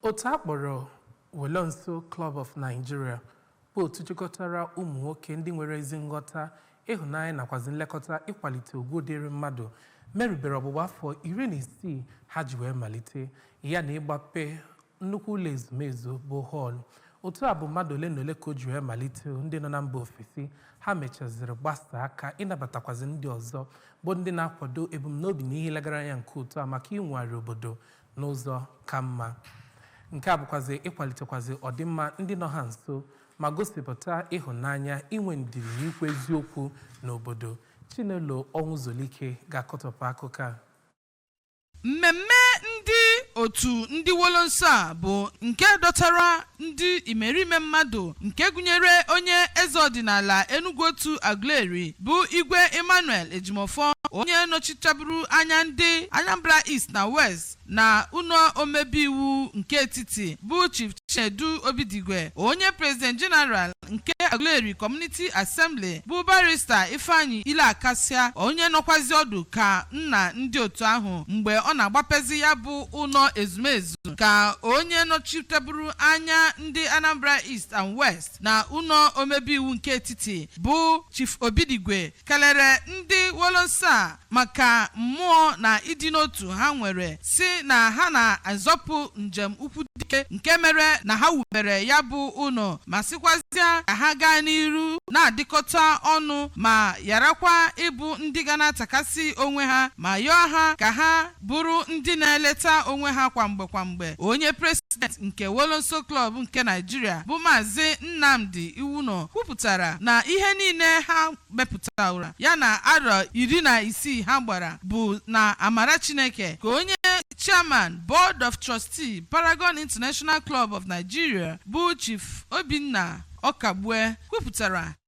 Otu a kpọrọ Wolonso Club of Nigeria bụ otu jikọtara ụmụ nwoke ndị nwere ezi nghọta, ịhụnanya nakwazi nlekọta ịkwalite ugwu dịịrị mmadụ merubere ọgbụgba afọ iri na isii ha ji wee malite ya na ịgbape nnukwu ụlọ ezumezu bụ hall. Otu a bụ mmadụ ole na ole ka o ji wee malite ndị nọ na mba ofesi, ha mechaziri gbasa aka ịnabatakwazi ndị ọzọ bụ ndị na-akwado ebumnobi na ihe e legara anya nke otu a maka inwogharị obodo n'ụzọ ka mma. Nke a bụkwazị ịkwalitekwazị ọdịmma ndị nọ ha nso ma gosipụta ịhụnanya, inwe ndidi na ikwu eziokwu n'obodo. Chinelo Ọnwụzolike ga-akọtọpụ akụkọ a. Mmemme ndị otu ndị Wolonso a bụ nke dọtara ndị imerime mmadụ nke gụnyere onye eze ọdịnala Enugwu Otu Aguleri bụ Igwe Emmanuel Ejimofọ onye nọchitaburu anya ndị Anambra East na West na ụlọ omebe iwu nke etiti bụ Chief Chinedu Obidigwe onye President General nke Aguleri Community Assembly bụ Barrister Ifeanyi Iloakasia onye nọkwazi ọdụ ka nna ndị otu ahụ mgbe ọ na-agbapezi ya bụ ụlọ ezumezu ka onye nọchiteburu anya ndị Anambra East and West na ụlọ omebe iwu nke etiti bụ Chief Obidigwe kelere ndị Wolonso maka mmụọ na ịdị n'otu ha nwere sị na ha na-azọpụ njem ukwu dike nke mere na ha wubere ya bụ ụlọ ma sịkwazịa ka ha gaa n'iru na-adịkọta ọnụ ma yarakwa ịbụ ndị ga na-atakasị onwe ha ma yọọ ha ka ha bụrụ ndị na-eleta onwe ha kwa mgbe kwa mgbe onye president nke Wolonso Club nke Nigeria bụ Maazị Nnamdi Iwuno kwupụtara na ihe niile ha mepụtara ya na arọ iri na isii ha gbara bụ na amara Chineke ka onye chairman board of trustee Paragon International Club of Nigeria bụ Chief Obinna Ọkagbue kwupụtara